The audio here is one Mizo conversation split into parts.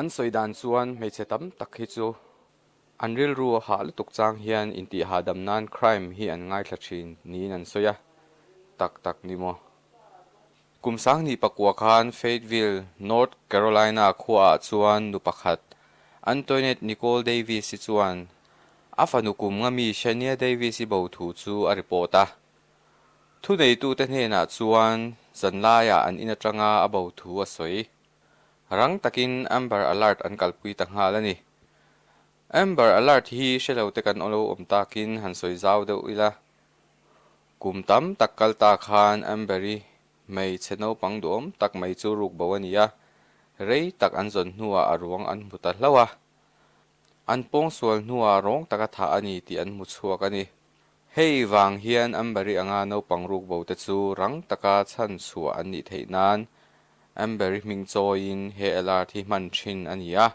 An sawi dan chuan hmeichhe tam tak hi chu an rilru a hah lutuk chang hian intih hahdam nan crime hi an ngaithla thin niin an sawi a, tak tak ni maw? Kum Sangni pakua khan Fayetteville, North Carolina khuaah chuan nu pakhat Antoinette Nicole Davis hi chuan a fanu kum nga mi Shania Davis i bo thu chu a report a, Thuneitute hnenah chuan zanlaia an in atanga a bo thu a sawi. Rang takin Amber Alert an kalpui ta nghal a ni. Amber Alert hi hrelote kan aw lo awm takin han sawi zau deuh ila. Kum tam tak kal ta khan Amber-i hmeichhe naupang duhawm tak mai chu ruk bo a ni a, rei tak an zawn hnuah a ruang an hmu ta hlauh a. An pawng sual hnuah rawng taka thah a ni tih an hmu chhuak a ni. Hei vang hian Amberry anga naupang rukbote chu rang taka chhan chhuah an nih theih nan Amberry hming chawiin he alert hi hman thin a ni a.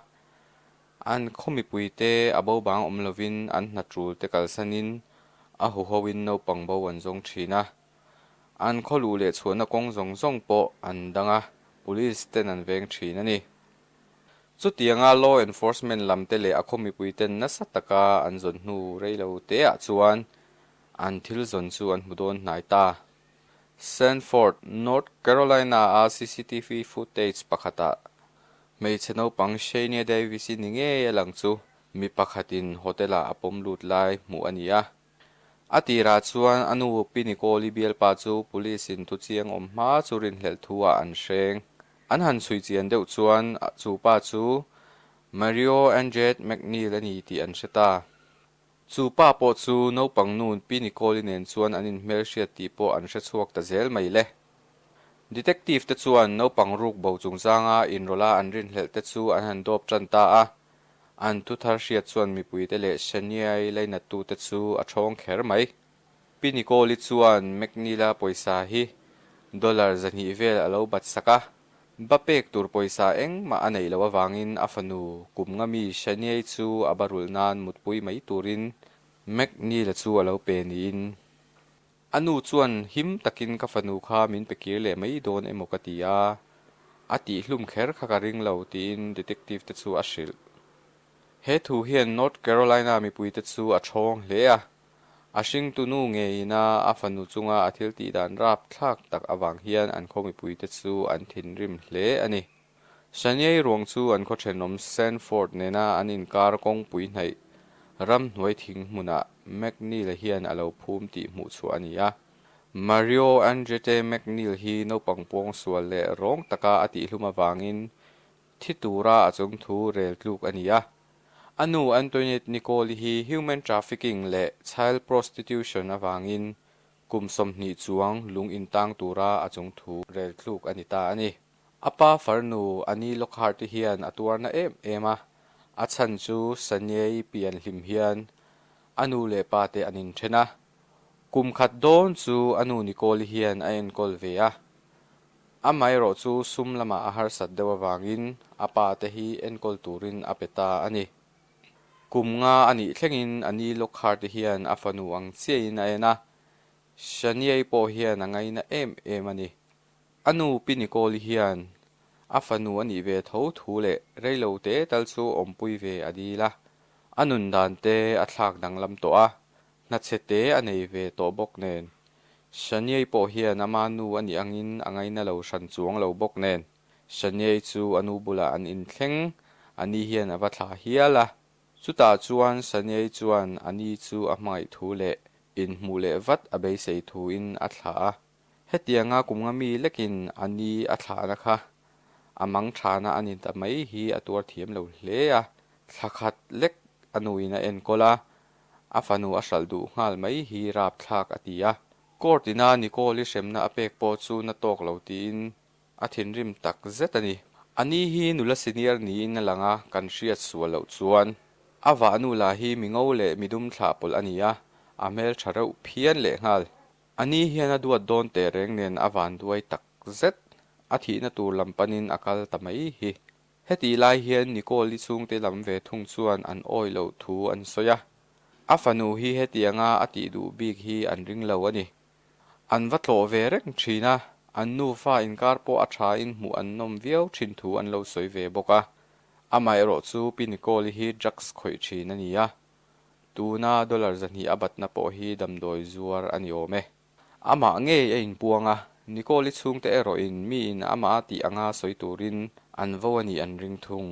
An khawmipuite a bobang awm lovin an hna tul te kalsanin a huhoin naupang bo an zawng thin a. An khawlu leh chhuahna kawng zawng zawng pawh an dang a, police ten an veng thin a ni. Chutianga law enforcement lam te leh a khaw mipui ten nasa taka an zawn hnu rei lo teah chuan an thil zawn chu an hmu dawn hnai ta. Sanford, North Carolina-a CCTV footage pakhatah hmeichhe naupang Shania Davis-i ni ngei a lang chu mi pakhatin hotel-ah a pawm lut lai hmuh a ni a. A tirah chuan a nu Pi Nikoli bialpa chu police in tu chiang awm hma chu rinhlelh thu ah an hreng. An han chhui chian deuh chuan chu pa chu Mario Anjet McNeil a ni tih an hre ta. Chu pa pawh chu naupang nu Pi Nikoli nen chuan an in hmelhriat tih pawh an hre chhuak ta zel mai le. Detective te chuan naupang ruk bo chungchanga in rawla an rinhlelh te chu an han dawp tan ta a. An thu thar hriat chuan mipuite leh Shania'i lainatute chu a thawng kher mai. Pi Nicole-i chuan McNeil-a pawisa hi dollar zahnih vel a lo bat sak a, ba pek tur pawisa engmah a neih loh avangin a fanu kum nga mi Shania'i chu a ba rulh nan mutpui mai turin McNeil-a chu a lo pe niin A nu chuan him takin ka fanu kha min pe kir leh mai dawn emaw ka ti a, a tih hlum kher kha ka ring lo tiin detective te chu a hrilh. He thu hian North Carolina mipuite chu a ṭhawng hle a, a hringtu nu ngeiina a fanu chunga a thiltihdan rapthlak tak avang hian an khaw mipuite chu an thinrim hle a ni. Sanyei ruang chu an khawthenawm Sanford nena an inkar kawngpui hnaih ramhnuai thing hmunah McNeil-a hian a lo phum tih hmuhchhuah a ni a. Mario Andrette McNeil hi naupang puang sual leh rawng taka a tihhlum avangin thi tura a chawng thu rel tluk a ni a. A nu Antoinette Nicole hi human trafficking leh child prostitution avangin kum sawmhnih chuang lung intang tura a chawng thu rel tluk a ni ta a ni. A pa far nu Ani Lockhart te hian a tuarna em em a, a chhan chu Sanyei pian hlim hian a nu leh pa te an inthen a. Kum khat dawn chu a nu Nicole hian a enkawl ve a. Amaherawh chu sum lama a harsat deuh avangin a pa te hi enkawl turin a pe ta a ni. Kum nga a nih thlengin Ani Lockhart te hian a fanu ang chiahin a en a, Sanyei pawh hian a ngaina em em a ni. A nu Pi Nikawli hian a fanu a nih ve tho thu leh reilo te tal chu awmpui ve a dil a, a nun dan te a thlak danglam tawh a, hnachhe te a nei ve tawh bawk nen. Shaniei pawh hian ama nu a nih angin a ngaina lo hran chuang lo bawk nen, Shaniei chu a nu bulah an in thleng, a ni hian a va thla hial a. Chutah chuan Shaniei chuan a ni chu a hmangaih thu leh inhmuh leh vat a beisei thu in a thla a. Hetianga kumnga mi lekin a ni a thlahna kha a mang thlana a ni ta mai hi a tuar thiam lo hle a, thla khat lek a nuin a enkawl a, a fanu a hralh duh nghal mai hi rap thlak a ti a. Court ina Nicole-i hremna a pek pawh chu na tawk lo tiin a thinrim tak zet a ni. A ni hi nula senior niin a lang a, kan hriat sual loh chuan a vahnu la hi mi ngo leh mi dum thlah pawlh a ni a, a hmeltha reuh phian leh nghal. Ani hian a duat dawn teh reng nen a van duai tak zet. A thihna tur lam panin a kal ta mai hi. Hetih lai hian Nicole-i chhungte lam ve thung chuan an awi loh thu an sawi a. A fanu hi hetianga a tih duh bik hi an ring lo a ni. An va tlawh ve reng thin a, an nufa inkar pawh a thain hmuh an nawm viau thin thu an lo sawi ve bawk a. Amaherawhchu pi Nicole-i hi drugs khawih thin a ni a. Tuna dollar zahnih a batna pawh hi damdawi zuar a ni awm e. Amah ngei a inpuang a, Nicole i chhungte erawhin miin amaha tih anga sawi turin an vo a nih an ring thung.